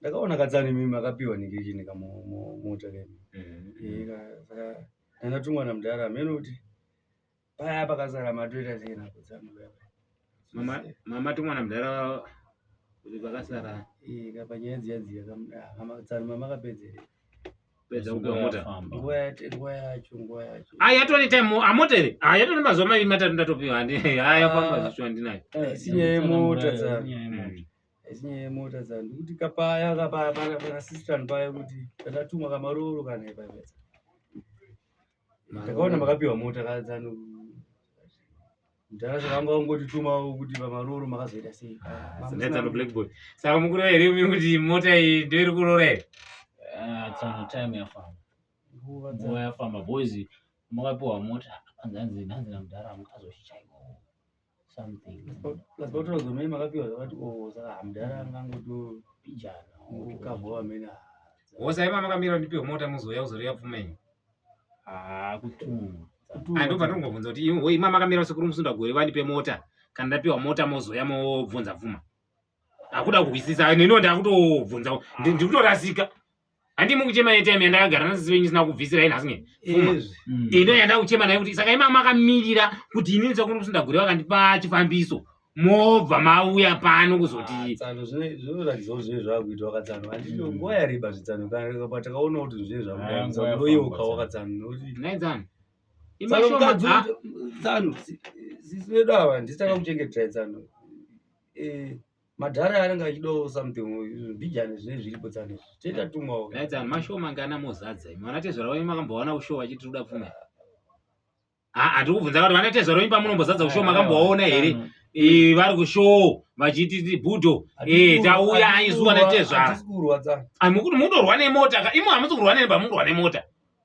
ndakaona katsano imi makapiwa nekechini kamota kemi mm-hmm. saka ndakatumwa namudhara amene kuti paya pakasara matoita sei nako dzangu mama tumwa namudhara kuti pakasara kapanyaya dziya dziya tsano mamakapedzere yatone time amoteve yatone mazuva maviri matatu ndatopiwa haya famba zvishu andinayo sinyaya yemota tsano Echinyaya yemota dzangu ndikuti kapaya kapaya pana pana sister paya kuti takatumwa kamaroro kana ipaya. Takaona makapiwa mota kadzano. Ndara zvakanga ungotituma kuti pamaroro makazoita sei? Ah, Sinetsa no black boy. Saka mukuru here imi kuti mota iyi ndio iri kurora here? Ah, tsano time yafamba. Nguva dza. Nguva yafamba boys makapiwa mota. Hanzi hanzi hanzi namudhara mukazoshicha iko. something plus pakutora gomei makapiwa zvakati o oh, saka hamdara angangotopijana ukava wamene hosa ima makamira ndipiwe mota muzouya kuzoreva pfuma yenyu haa kutumwa ando patinongobvunza kuti ima makamira sekuru musunda gore vandipe mota kana ndapiwa mota mozouya mobvunza pfuma akuda kuhwisisa neniwo ndakutobvunza ndiri kutorasika handi mukuchema yetime yandakagara nasisi venyu isina kubvisira ini asinge fuma mm. ino yandakuchema nayo kuti saka imama makamirira kuti ini ndisakuno kuti ndagure vakandipa chifambiso mobva mauya pano kuzoti ah, tsano zvinoratidzao zvive zvakuitwa wakatsano andino mm. nguva yareba zvitsano patakaona kuti zvive zvakuoyeuka ah, wakatsano nokuti naitsano tsano tsano sisi vedu ava ndisitaka kuchengetera tsano eh madhara anenge achidawo something mbijani zvine zviripo tsani toita tumwawo naidzani mashow mangana mozadza imi vana tezvara venyu makambovaona kushow vachiti toda pfuma hatiri kubvunza kuti vana tezvara venyu pamunombozadza kushow makambovaona here vari kushow vachiti budo eh, tauya aizuva natezvara mukuti munorwa nemota ka imi hamusi kurwa neni pamunorwa nemota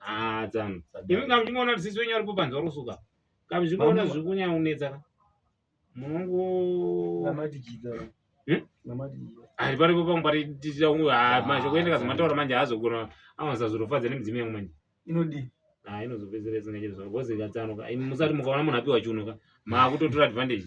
Ah, tsano. Imi kana muchimuona kuti sisi wenyu aripo panze wari kusuka. Kana muchimuona zviri kunyanya kunetsa ka. Munongo namati jita. Hmm? Namati jita. Ari paripo pangu pari tichita kungu ah, ah manje kuenda kazi mataura manje hazogona anonza zvirofadza nemidzimu yangu manje. Inodii? Ah, inozopedzera isingaite zvavo. Bozi katsano ka. Musati mukaona munhu apiwa chiuno ka. Maakutotora advantage.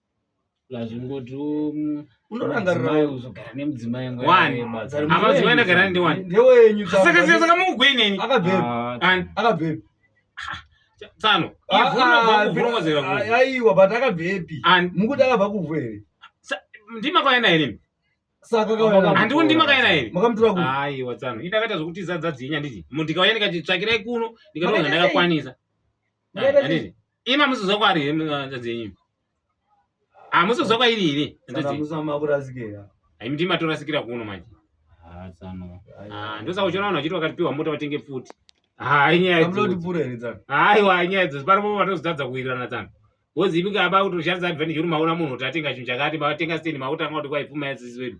zvingoti unorangarira uzogara nemudzimai nguaamadzimai ndagara ndiwani ndewenyu saka saka saka mukugoineni akabvepi akabvepi tsano aiwa but akabvepi mukuti akabva kuvhu here ndimakwaena here saka handiwo ndimakaena here makamutura kupi aiwa tsano ini ndakaita zvokuti zadza dzinya nditi ndikauya ndikati tsvakirai kuno ndikatoona ndakakwanisa Imi amusizwa kwari here hanzvadzi yenyu? Amusizwa kwairi here hanzvadzi yenyu? Saka makurasikira. Hayi miti matorasikira kuno manje. Ah, tsano. Ah, ndosaka uchiona vanhu vachiti vakatipiwa mota vatenge pfuti. Hayi nyaya idzi. Kamloti pura here tsano? Hayi wa nyaya idzi. Paripo vatozotadza kuwirirana tsano. Wozi imi ngaba kutoshandisa advantage kuti maona munhu kuti atenga chinhu chakati, matenga stand makuti anga kuti kwaipfuma yasisi wedu.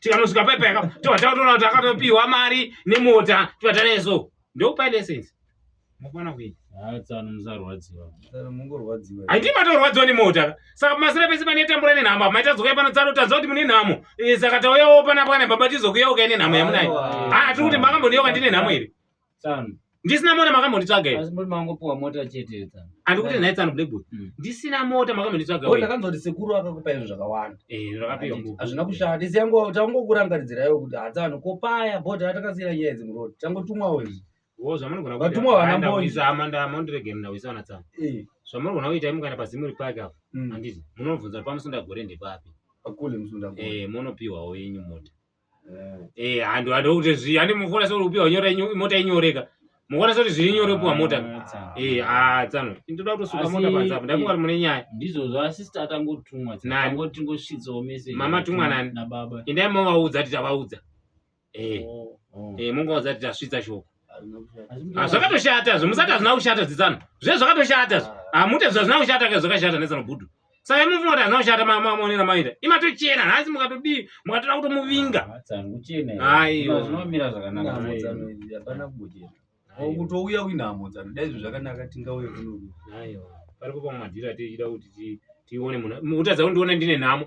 tikanosvika paipa yakapa tobva tatoona kuti akatopiwa mari nemota tobva taneso ndokupai license mukwana kuini haiti matorwadziwa nemota saka pamasira pese pane tambura nenhamo apa maita zokuya pano tsaro tanzwa kuti mune nhamo eh, saka tauyawo pana bwana baba tizokuyawo kai nenhamo yamunayo haa ah, tiri kuti makambondiyoka ndine nhamo here Tsano. Ndisina mota makambonditsvaga here? Asi muri mangopuwa mota chete tsano. Andikuti nhai tsano black boy. Mm. Ndisina mota makambonditsvaga Wewe here? ndakanzwa kuti sekuru akakupa izvo zvakawanda. Eh, zvakapiwa Handiti, nguva. Hazvina kushata. Ndisi yangu tangokurankaridzira iwe kuti hadzano ko paya bota atakasira nyaya idzi muroad. Tangotumwawo izvi. Wo zvamunogona kuita. Vatumwa vana Aenda mbonyi. kuisa hama nda mondiregera ndawisa wana tsano. Eh. Zvamunogona kuita imukana pazimuri pake apo. Mm. Handiti munobvunza pamusunda gore ndepapi. Akule musunda. Eh, munopiwawo yenyu mota. eh handi handi kuti zvi handi mufona so upiwa nyora mota inyoreka mukona so zviri nyore upiwa mota ah, eh ah tsano ndoda kutosuka mota panza apo ndakunga mune nyaya ndizvo zva sister atangotumwa nani tingosvitsawo message mama tumwa nani na baba indai mavaudza titabaudza eh oh, oh. eh mungaudza titasvitsa shoko Ah, zvakatoshata zve musati hazvina kushata dzitsano zve zvakatoshata zve ah. hamute ah, zvazvina kushata ke zvakashata netsano budu saka imi mufungati hazvina kushata maonera maita imatochena nhasi mukatodii mukatoda kutomuvinga kutouya kuinhamo dzano dai izvo zvakanaka tingauye kunoku pari kupa mumadhiri atichida kuti tione munhu utadza kundiona ndine nhamo